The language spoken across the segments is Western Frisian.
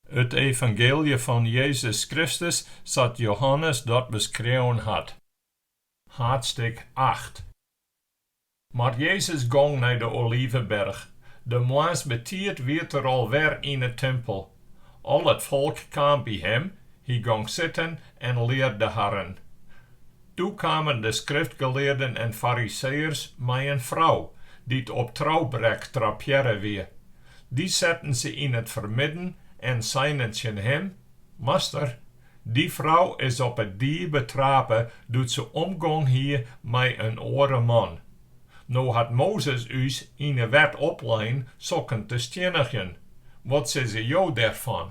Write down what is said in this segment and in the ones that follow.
It evangeelje fan Jezus Kristus sa't Johannes dat beskreaun hat, haadstik acht. Mar Jezus gong nei de Oliveberch, de moarns betiid wie er al wer yn 'e timpel. Al it folk kaam by him, hy gong sitten en learde harren. Doe kamen de skriftgelearden en fariseeërs mei in frou, dy't op troubrek trappearre wie. Dy setten se yn it fermidden en seinen tsjin him, Master, dy frou is op 'e died betrape doe't se omgong hie mei in oare man. No hat Mozes ús yn 'e wet oplein sokken te stjinnigjen. Wat sizze jo dêrfan?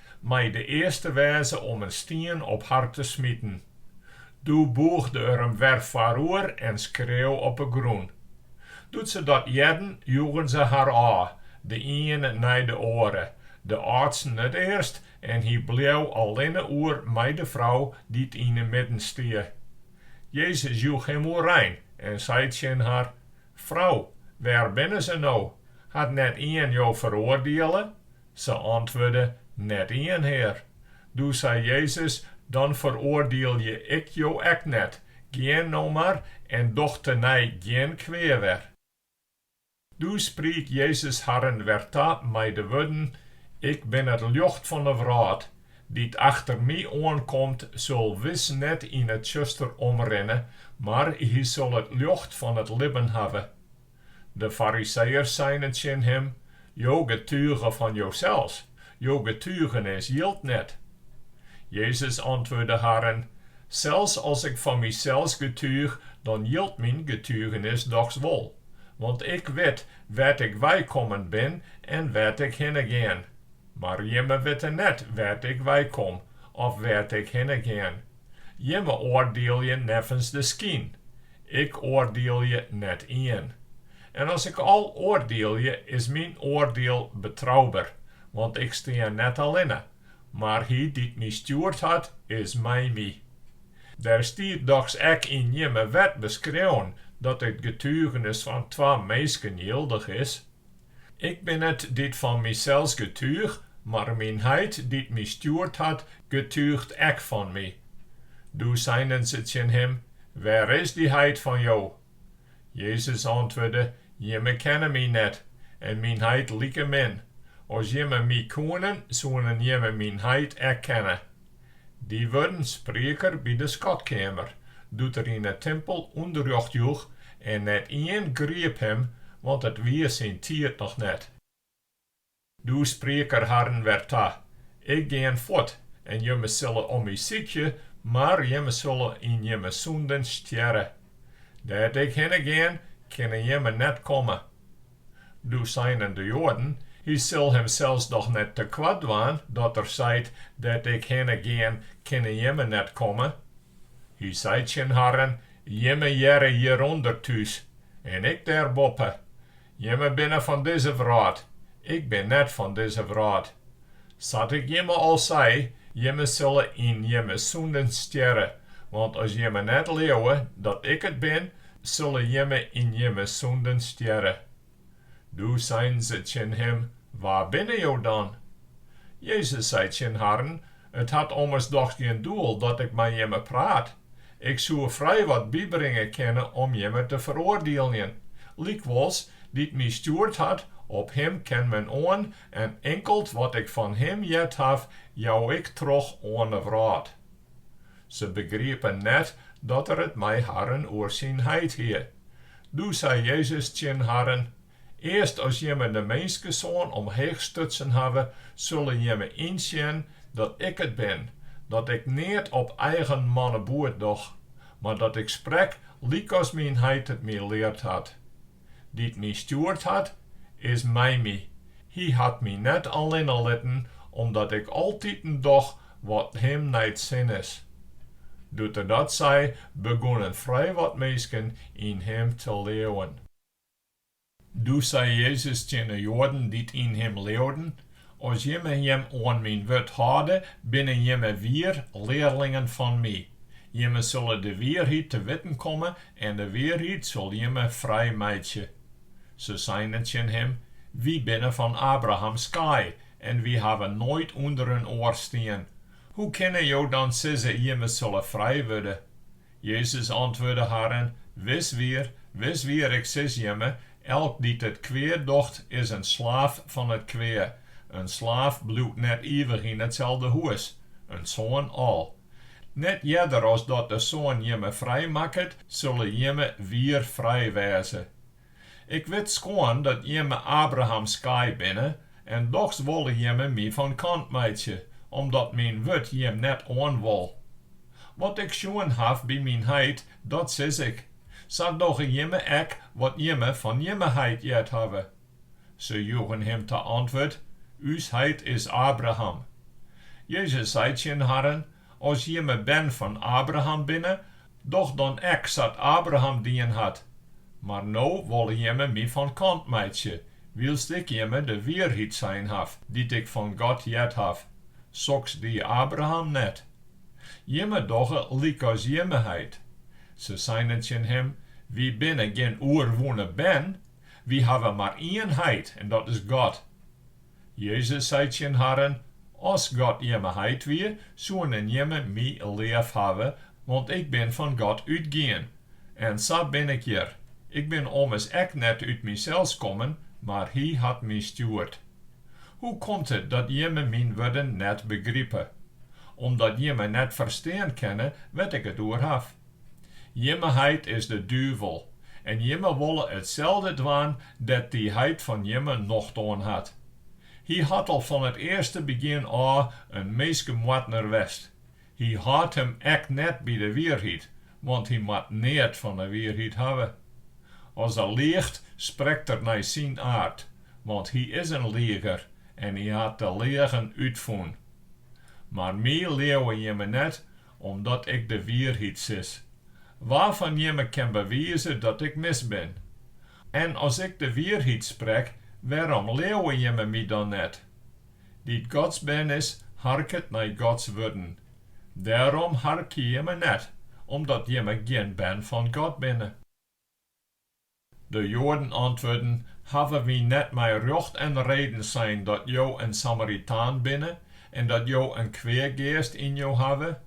mei de earste wêze om in stien op har te smiten. Doe bûgde er him wer foaroer en skreau op 'e grûn. Doe't se dat hearden, joegen se har ôf, de iene nei de oare, de âldsten it earst en hy bleau allinne oer mei de frou dy't yn 'e midden stie. Jezus joech him oerein en sei tsjin har, Frou, wêr binne se no? Hat net ien jo feroardiele? Se antwurde, Net ien, Hear. Doe sei Jezus, Dan feroardielje ik jo ek net, gean no mar en doch tenei gjin kwea wer. Doe spriek Jezus harren wer ta mei de wurden, Ik bin it ljocht fan 'e wrâld, dy't achter my oankomt, sil wis net yn 'e tsjuster omrinne, mar hy sil it ljocht fan it libben hawwe. De Fariseeërs seinen tsjin him, Jo getuge fan josels, jo getugenis jildt net. Jezus antwurde harren, Sels as ik fan mysels getúch, dan jildt myn getugenis dochs wol, want ik wit wêr't ik weikommen bin en wêr't ik hinne gean, mar jimme witte net wêr't ik weikom of wêr't ik hinne gean. Jimme oardielje neffens de skyn, Ik oardielje net ien. En as ik al oardielje, is myn oardiel betrouber, want ik stean net allinne, mar Hy dy't my stjoerd hat, is mei my. Der stiet dochs ek yn jimme wet beskreaun dat it getugenis fan twa minsken jildich is. Ik bin it dy't fan mysels getúch, mar myn Heit dy't my stjoerd hat, getúcht ek fan my. Doe seinen se tsjin him, Wêr is dy Heit fan jo? Jezus antwurde, Jimme kenne my net, en myn Heit likemin. As jimme my koenen, soenen jimme myn Heit ek kenne. Dy wurden spriek er by de skatkeamer, doe't er yn 'e timpel ûnderrjocht joech, en net ien griep him, want it wie syn tiid noch net. Doe spriek er harren wer ta, Ik gean fuort, en jimme sille om my sykje, mar jimme sille yn jimme sûnden stjerre. Dêr't ik hinne gean, kinne jimme net komme. Doe seinen de Joaden, Hy sil himsels dochs net te koart dwaan, dat Er seit, Dêr't Ik hinne gean, kinne jimme net komme? Hy sei tsjin harren, Jimme hearre hjirûnder thús, en Ik dêrboppe. Jimme binne fan dizze wrâld, Ik bin net fan dizze wrâld. Sa't ik jimme al sei, jimme sille yn jimme sûnden stjerre, want as jimme net leauwe dat ik it bin, sille jimme yn jimme sûnden stjerre. Doe seinen se tsjin him, Wa binne jo dan? Jezus sei tsjin harren, It hat ommers dochs gjin doel dat ik mei jimme praat. Ik soe frij wat bybringe kinne om jimme te feroardieljen. Lykwols, dy't my stjoerd hat, op him ken men oan en inkeld wat ik fan him heard haw, jou ik troch oan 'e wrâld. Se begriepen net dat er it mei harren oer syn heit hie. Doe sei Jezus tsjin harren, Earst as jimme de Minskesoan omheech stutsen hawwe, sulle jimme ynsjen dat ik it bin, dat ik neat op eigen manneboet doch, mar dat ik sprek lykas myn heit it my leard hat. dy't my stjoerd hat, is mei my. Hy hat my net allinne litten, omdat ik altiten doch wat him nei't sin is. Doe't er dat sei, begûnen frij wat minsken yn him te leauwen. Doe sei Jezus tsjin 'e Joaden dy't yn him leauwden, As jimme jim oan myn wurd hâlde, binne jimme wier learlingen fan my. Jimme sille de wierheid te witten komme en de wierheid sil jimme frij meitsje. Se seinen tsjin him, Wy binne fan Abrahams skaai en wy hawwe noait ûnder in oar stien. Hoe kinne jo dan sizze, Jimme sille frij wurde? Jezus antwurde harren, Wis wier, wis wier, Ik sis jimme, elk dy't it kwea docht, is in slaaf fan it kwea. In slaaf bliuwt net ivich yn itselde hûs, in soan al. Net earder as dat de Soan jimme frij makket, sille jimme wier frij wêze. Ik wit skoan dat jimme Abrahams skaai binne, en dochs wolle jimme my fan kant meitsje, omdat myn wurd jim net oan wol. Wat ik sjoen haw by myn heit, dat sis ik, sa dogge jimme ek wat jimme fan jimme heit heard hawwe. Se joegen him ta antwurd, Us heit is Abraham. Jezus sei tsjin harren, As jimme bern fan Abraham binne, doch dan ek sa't Abraham dien hat. Mar no wolle jimme my fan kant meitsje, wylst ik jimme de wierheid sein haw, dy't ik fan God heard haw. Soks die Abraham net. Jimme dogge lykas jimme heit. Se seinen tsjin him, Wy binne gjin oerwûne bern, wy hawwe mar ien Heit, en dat is God. Jezus sei tsjin harren, As God jimme heit wie, soenen jimme my leaf hawwe, want ik bin fan God útgien. En sa bin ik hjir. Ik bin ommers ek net út mysels kommen, mar Hy hat my stjoerd. Hoe komt it dat jimme myn wurden net begripe? Omdat jimme net ferstean kinne wêr't ik it oer haw. Jimme heit is de duvel, en jimme wolle itselde dwaan dêr't dy heit fan jimme nocht oan hat. Hy hat al fan it earste begjin ôf in minskemoardner west. Hy hâldt him ek net by de wierheid, want hy moat neat fan de wierheid hawwe. As er liicht, sprekt er nei syn aard, want hy is in lieger en hy hat de leagen útfûn. Mar my leauwe jimme net, omdat ik de wierheid sis. Wa fan jimme kin bewize dat ik mis bin? En as ik de wierheid sprek, wêrom leauwe jimme my dan net? Dy't Gods bern is, harket nei Gods wurden. Dêrom harkje jimme net, omdat jimme gjin bern fan God binne. De Joaden antwurden, Hawwe wy net mei rjocht en reden sein dat jo in Samaritaan binne en dat jo in kweageast yn jo hawwe?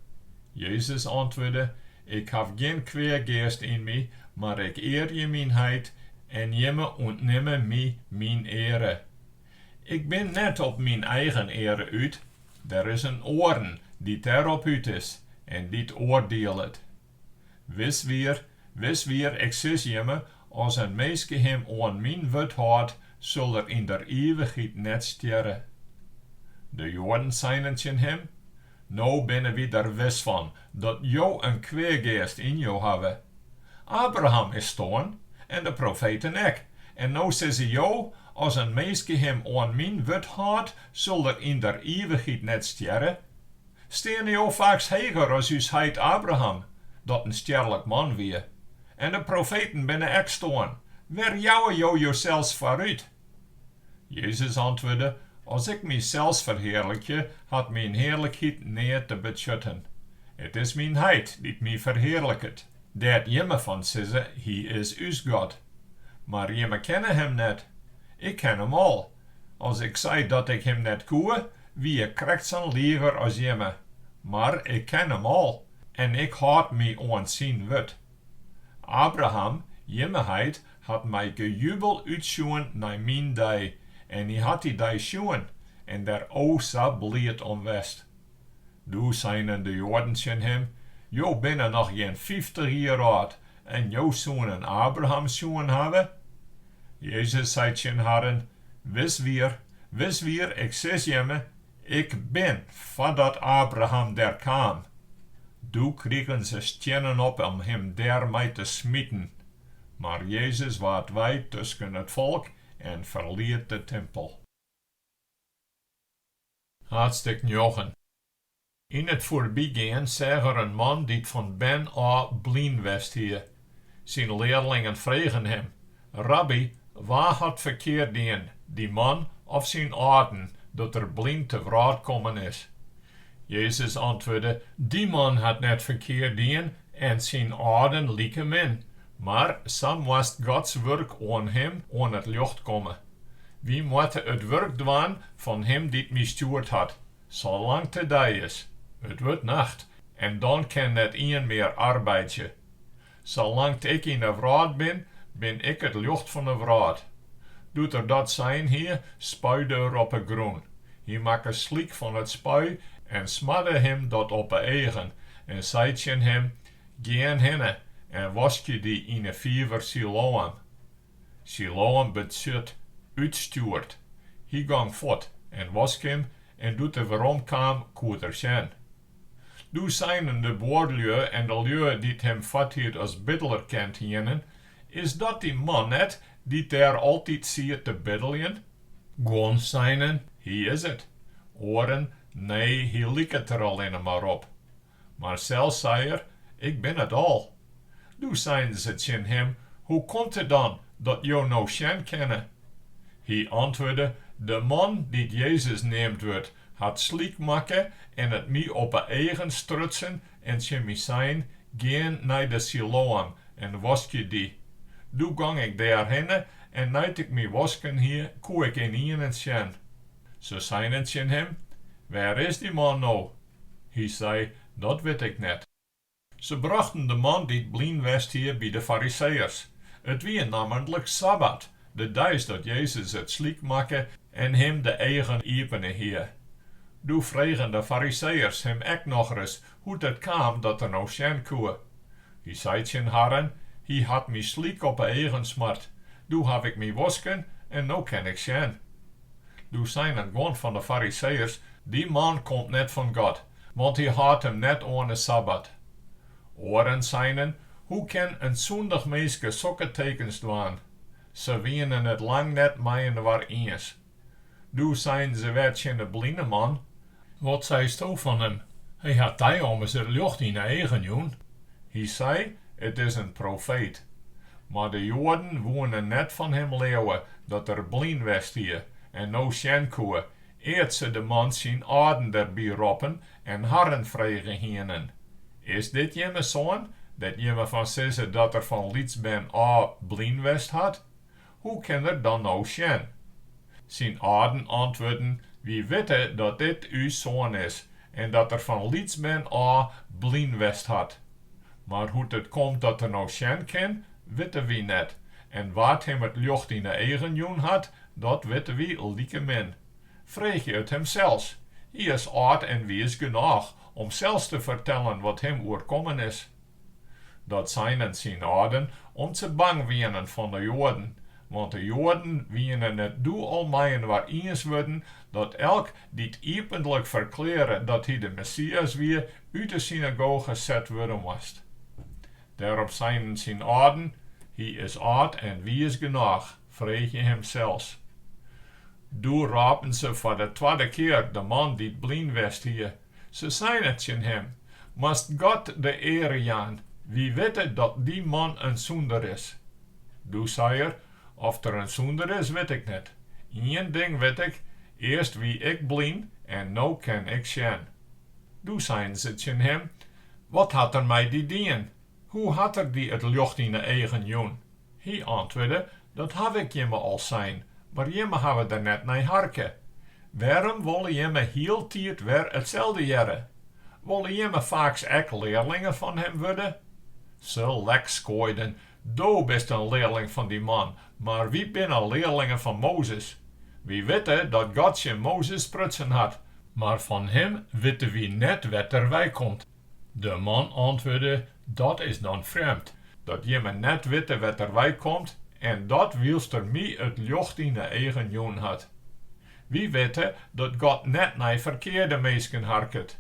Jezus antwurde, Ik haw gjin kweageast yn my, mar ik earje myn heit en jimme ûntnimme my myn eare. Ik bin net op myn eigen eare út, der is in oaren dy't dêrop út is en dy't oardielet. Wis wier, wis wier, ik sis jimme, as in minske him oan myn wurd hâldt, sil er yn der ivichheid net stjerre. De Joaden seinen tsjin him, No binne wy der wis fan, dat jo in kweageast yn jo hawwe. Abraham is stoarn, en de profeten ek, en no sizze jo, As in minske him oan myn wurd hâldt, sil er yn der ivichheid net stjerre? Steane jo faaks heger as ús heit Abraham, dy't in stjerlik man wie, en de profeten binne ek stoarn, wêr jouwe jo josels foar út? Jezus antwurde, As ik mysels ferhearlikje, hat myn hearlikheid neat te betsjutten. It is myn heit dy't my ferhearliket, dêr't jimme fan sizze, Hy is ús God. Mar jimme kenne him net. Ik ken him al, As ik sei dat ik him net koe, wie ik krekt sa'n liger as jimme. Mar ik ken him al en ik hâld my oan syn wurd. Abraham, jimme heit, hat mei gejubel útsjoen nei myn dei, en hy hat dy dei sjoen en der o sa bliid om west. Doe seinen de Joaden tsjin him, Jo binne noch gjin fyftich jier âld en jo soenen Abraham sjoen hawwe? Jezus sei tsjin harren, Wis wier, wis wier, ik sis jimme, Ik bin, foardat Abraham der kaam. Doe krigen se stiennen op om him dêr mei te smiten. Mar Jezus waard wei tusken it folk en ferliet de timpel. Haadstik njoggen. Yn it foarbygean seach er in man dy't fan bern ôf blyn west hie. Syn learlingen fregen him, Rabby, wa hat ferkeard dien, dy man of syn âlden, dat er blyn te wrâld kommen is? Jezus antwurde, Dy man hat net ferkeard dien en syn âlden likemin, Mar sa moast Gods wurk oan him oan it ljocht komme. Wy moatte it wurk dwaan fan Him dy't my stjoerd hat, salang't it dei is. It wurdt nacht, en dan kin net ien mear arbeidzje. Salang't ik yn 'e wrâld bin, bin ik it ljocht fan 'e wrâld. Doe't er dat sein hie, spuide er op 'e grûn. Hy makke slyk fan it spui en smadde him dat op 'e eagen en sei tsjin him, Gean hinne en waskje dy yn 'e fiver Siloam. Siloam betsjut, útstjoerd. Hy gong fuort en wosk him en doe't er werom kaam, koe er sjen. Doe seinen de buorlju en de lju dy't him foarthied as biddeler kend hienen, Is dat dy man net dy't dêr altyd siet te biddeljen? Guon seinen, Hy is it. Oaren, Nee, hy liket der allinne mar op. Mar sels sei er, Ik bin it al. Doe seinen se tsjin him, Hoe komt it dan dat jo no sjen kinne? Hy antwurde, De man dy't Jezus neamd wurdt, hat slyk makke en it my op 'e eagen strutsen en tsjin my sein, Gean nei de Siloam en waskje dy. Doe gong ik dêrhinne en nei't ik my wosken hie, koe ik ynienen sjen. Se seinen tsjin him, Wêr is dy man no? Hy sei, Dat wit ik net. Se brochten de man dy't blyn west hie by de Fariseeërs. It wie nammentlik sabbat, de deis dat Jezus it slyk makke en him de eagen iepene hie. Doe fregen de Fariseeërs him ek nochris hoe't it kaam dat er no sjen koe. Hy sei tsjin harren, Hy hat my slyk op 'e eagen smart, doe haw ik my wosken en no kin ik sjen. Doe seinen guon fan 'e Fariseeërs, Dy man komt net fan God, want hy hâldt him net oan 'e sabbat. Oaren seinen, Hoe kin in sûndich minske sokke tekens dwaan? Se wienen it lang net mei-inoar iens. Doe seinen se wer tsjin de bline man, Wat seisto fan him? Hy hat dy ommers it ljocht yn 'e eagen jûn. Hy sei, It is in profeet. Mar de Joaden woene net fan him leauwe dat er blyn west hie en no sjen koe, ear't se de man syn âlden der by roppen en harren frege hienen, Is dit jimme soan, dêr't jimme fan sizze dat er fan lyts bern ôf blyn west hat? Hoe kin er dan no sjen? Syn âlden antwurden, Wy witte dat dit ús soan is en dat er fan lyts bern ôf blyn west hat. Mar hoe't it komt dat er no sjen kin, witte wy net, en wa't him it ljocht yn 'e eagen jûn hat, dat witte wy likemin. Freegje it him sels. Hy is âld en wiis genôch om sels te fertellen wat him oerkommen is. Dat seinen syn âlden om't se bang wienen fan de Joaden, want de Joaden wienen it doe al mei-inoar iens wurden dat elk dy't iepentlik ferklearre dat hy de Messias wie, út de synagoge set wurde moast. Dêrop seinen syn âlden, Hy is âld en wiis genôch, freegje him sels. Doe rôpen se foar de twadde kear de man dy't blyn west hie, Se seinen tsjin him, Moatst God de eare jaan, wy witte dat dy man in sûnder is. Doe sei er, Oft er in sûnder is, wit ik net. Ien ding wit ik, earst wie ik blyn en no kin ik sjen. Doe seinen se tsjin him, Wat hat er mei dy dien? Hoe hat er dy it ljocht yn 'e eagen jûn? Hy antwurde, Dat haw ik jimme al sein, mar jimme hawwe der net nei harke. Wêrom wolle jimme hieltiid wer itselde hearre? Wolle jimme faaks ek learlingen fan him wurde? Se lekskoaiden, Do bist in learling fan dy man, mar wy binne learlingen fan Mozes. Wy witte dat God tsjin Mozes sprutsen hat, mar fan him witte wy net wêr't er weikomt. De man antwurde, Dat is dan frjemd, dat jimme net witte wêr't er wei komt, en dat wylst er my it ljocht yn 'e eagen jûn hat. Wy witte dat God net nei ferkearde minsken harket,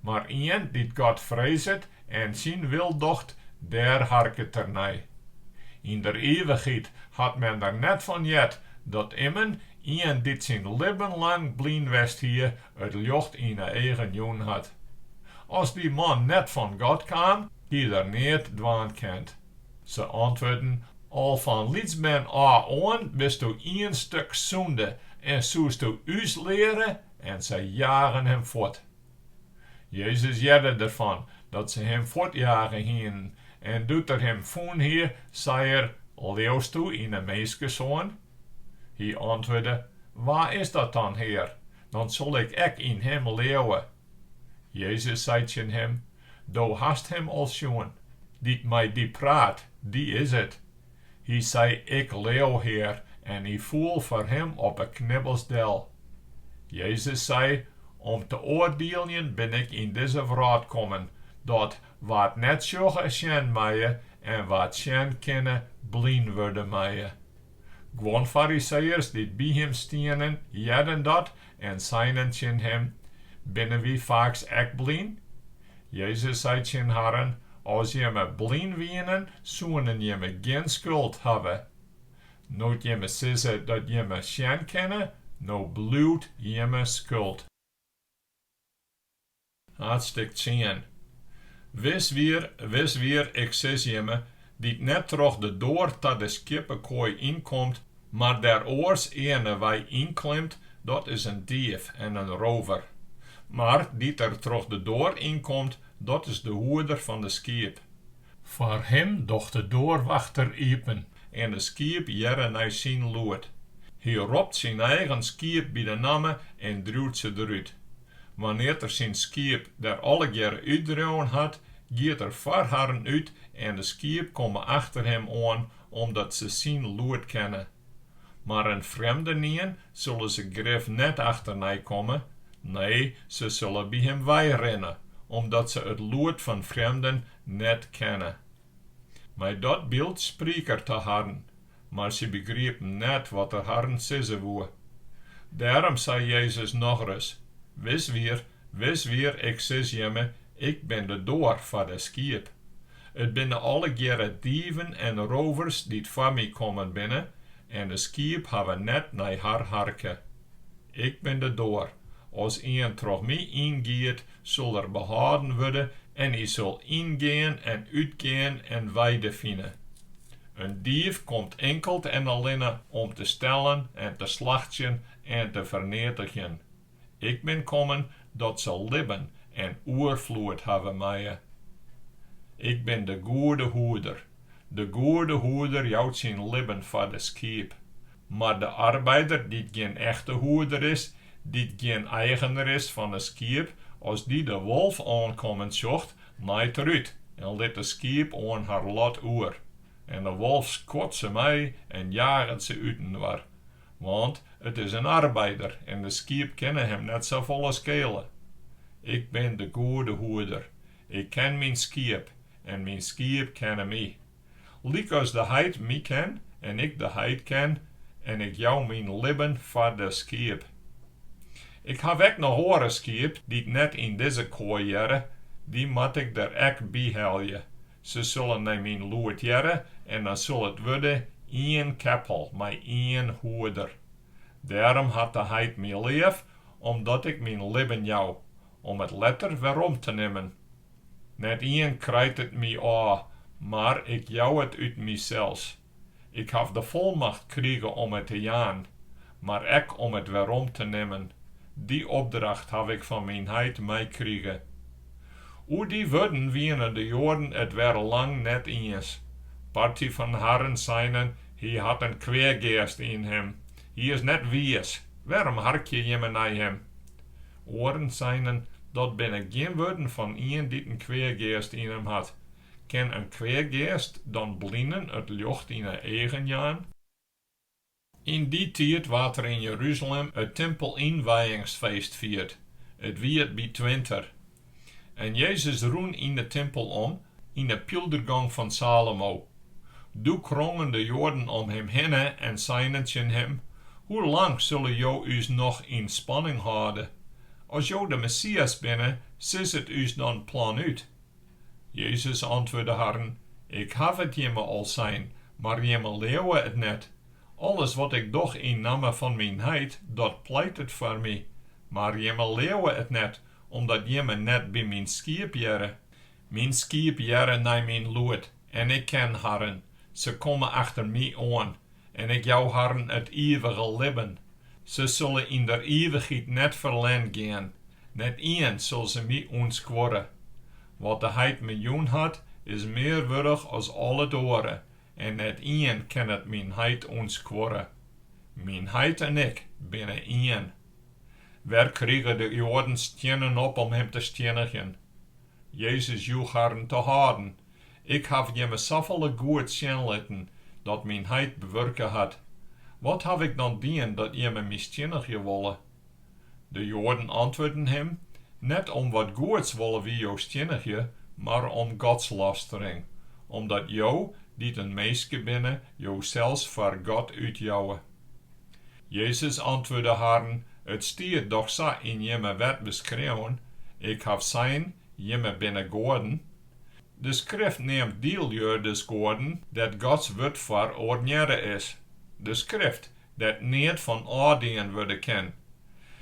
mar ien dy't God freezet en syn wil docht, dêr harket er nei. Yn der ivichheid hat men der net fan heard dat immen ien dy't syn libben lang blyn west hie, it ljocht yn 'e eagen jûn hat. As dy man net fan God kaam, hie er neat dwaan kend. Se antwurden, Al fan lytsbern ôf oan bisto ien stuk sûnde en soesto ús leare, en se jagen him fuort. Jezus hearde derfan dat se him fuortjage hienen, en doe't er him fûn hie, sei er, Leausto yn 'e Minskesoan? Hy antwurde, Wa is dat dan, Hear? Dan sil ik ek yn him leauwe. Jezus sei tsjin him, Do hast him al sjoen, dy't mei dy praat, dy is it. Hy sei, Ik leau, Hear, en hy foel foar him op 'e knibbels del. Jezus sei, Om te oardieljen bin ik yn dizze wrâld kommen, dat wa't net sjogge sjen meie en wa't sjen kinne, blyn wurde meie. Guon Fariseeërs dy't by him stienen, hearden dat en seinen tsjin him, Binne wy faaks ek blyn? Jezus sei tsjin harren, As jimme blyn wienen, soenen jimme gjin skuld hawwe. No't jimme sizze dat jimme sjen kinne, no bliuwt jimme skuld. Haadstik tsien. Wis wier, wis wier, ik sis jimme, dy't net troch de doar ta de skieppekoai ynkomt, mar dêr oars earne wei ynklimt, dat is in dief en in rôver. Mar dy't der troch de doar ynkomt, dat is de hoeder fan de skiep. Foar him docht de doarwachter iepen en de skiep hearre nei syn lûd. Hy ropt syn eigen skiep by de namme en driuwt se derút. Wannear't er syn skiep der allegearre útdreaun hat, giet er foar harren út en de skiep komme achter him oan, omdat se syn lûd kenne. Mar in frjemdenien sille se grif net achternei komme, nee, se sille by him weirinne, omdat se it lûd fan frjemden net kenne. Mei dat byld spriek er ta harren, Mar sy begriepen net wat er harren sizze woe. Dêrom sei Jezus nochris, Wis wier, wis wier, ik sis jimme, ik bin de doar foar de skiep. It binne allegearre dieven en rovers dy't foar my kommen binne, en de skiep hawwe net nei har harke. Ik bin de doar, as ien troch my yngiet, sil er behâlden wurde en hy sil yngean en útgean en weide fine. In dief komt inkeld en allinne om te stellen en te slachtsjen en te ferneatigjen. Ik bin kommen dat se libben en oerfloed hawwe meie. Ik bin de goede hoeder. De goede hoeder jout syn libben foar de skiep. Mar de arbeider dy't gjin echte hoeder is, dy't gjin eigener is fan de skiep, as dy de wolf oankommen sjocht, naait er út en lit de skiep oan har lot oer. En de wolf skuort se mei en jaget se útinoar, want it is in arbeider en de skiep kinne him net safolle skele. Ik bin de goede hoeder, ik ken myn skiep en myn skiep kenne my. Lykas de heit my ken en ik de heit ken, en ik jou myn libben foar de skiep. Ik haw ek noch oare skiep dy't net yn dizze koai hearre, dy moat ik der ek by helje. Se sille nei myn lûd hearre en dan sil it wurde ien keppel mei ien hoeder. Dêrom hat de heit my leaf, omdat ik myn libben jou, om it letter werom te nimmen. Net ien krijt it my ôf, mar ik jou it út mysels. Ik haw de folmacht krige om it te jaan, mar ek om it werom te nimmen. Dy opdracht haw ik fan myn heit meikrige. Oer dy wurden wiene de Joaden it wer lang net iens. Party fan harren seinen, Hy hat in kweageast yn him. Hy is net wiis. Wêrom harkje jimme nei him? Oaren seinen, Dat binne gjin wurden fan ien dy't in kweageast yn him hat. Kin in kweageast dan blinen it ljocht yn 'e eagen jaan? Yn dy tiid waard der yn Jeruzalem it timpelynwijingsfeest fierd. It wie it by 't winter. En Jezus rûn yn de timpel om, yn de pyldergong fan Salomo. Doe krongen de Joaden om him hinne en seinen tsjin him, Hoe lang sille jo ús noch yn spanning hâlde? As jo de Messias binne, sis it ús dan planút. Jezus antwurde harren, Ik haw it jimme al sein, mar jimme leauwe it net. Alles wat ik doch yn namme fan myn heit, dat pleitet foar my. Mar jimme leauwe it net, omdat jimme net by myn skiep hearre. Myn skiep hearre nei myn lûd, en ik ken harren, se komme achter my oan, en ik jou harren it ivige libben. Se sille yn der ivichheid net ferlern gean, net ien sil se my ûntskuorre. Wat de heit me jûn hat, is mear wurdich as al it oare, En net ien kin it myn heit ûntskuorre. Myn heit en ik binne ien. Wer krige de Joaden stiennen op om him te stiennigjen. Jezus joech harren te hâlden, Ik haw jimme safolle goed sjen litten, dat myn heit bewurke hat. Wat haw ik dan dien dat jimme my stiennigje wolle? De Joaden antwurden him, Net om wat goeds wolle wy jo stiennigje, mar om godslastering, omdat jo, dy't in minske binne, josels foar God útjouwe. Jezus antwurde harren, It stiet dochs sa yn Jimme wet beskreaun, Ik haw sein, Jimme binne goaden. De Skrift neamt dy lju dus goaden dêr't Gods Wurd foar ornearre is, de Skrift, dêr't neat fan ôfdien wurde kin.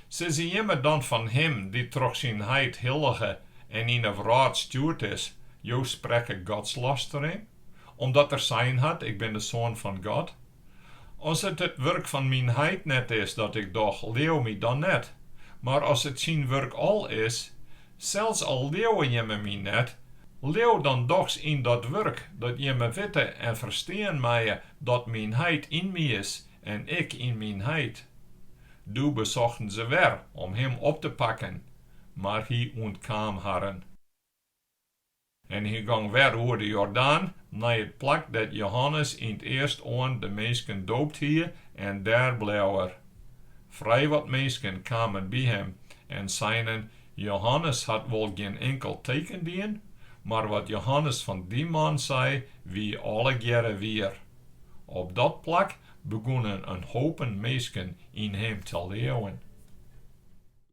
Sizze jimme dan fan Him dy't troch syn Heit hillige en yn 'e wrâld stjoerd is, Jo sprekke godslastering, omdat Er sein hat, Ik bin de Soan fan God? As it it wurk fan myn heit net is dat ik doch, leau my dan net. Mar as it syn wurk al is, sels al leauwe jimme my net, leau dan dochs yn dat wurk, dat jimme witte en ferstean meie dat myn heit yn my is en ik yn myn heit. Doe besochten se wer om him op te pakken, mar hy ûntkaam harren. En hy gong wer oer de Jordaan nei it plak dêr't Jehannes yn 't earstoan de minsken doopt hie, en dêr bleau er. Frijwat minsken kamen by him en seinen, Jehannes hat wol gjin inkel teken dien, mar wat Jehannes fan dy man sei, wie allegearre wier. Op dat plak begûnen in hopen minsken yn him te leauwen.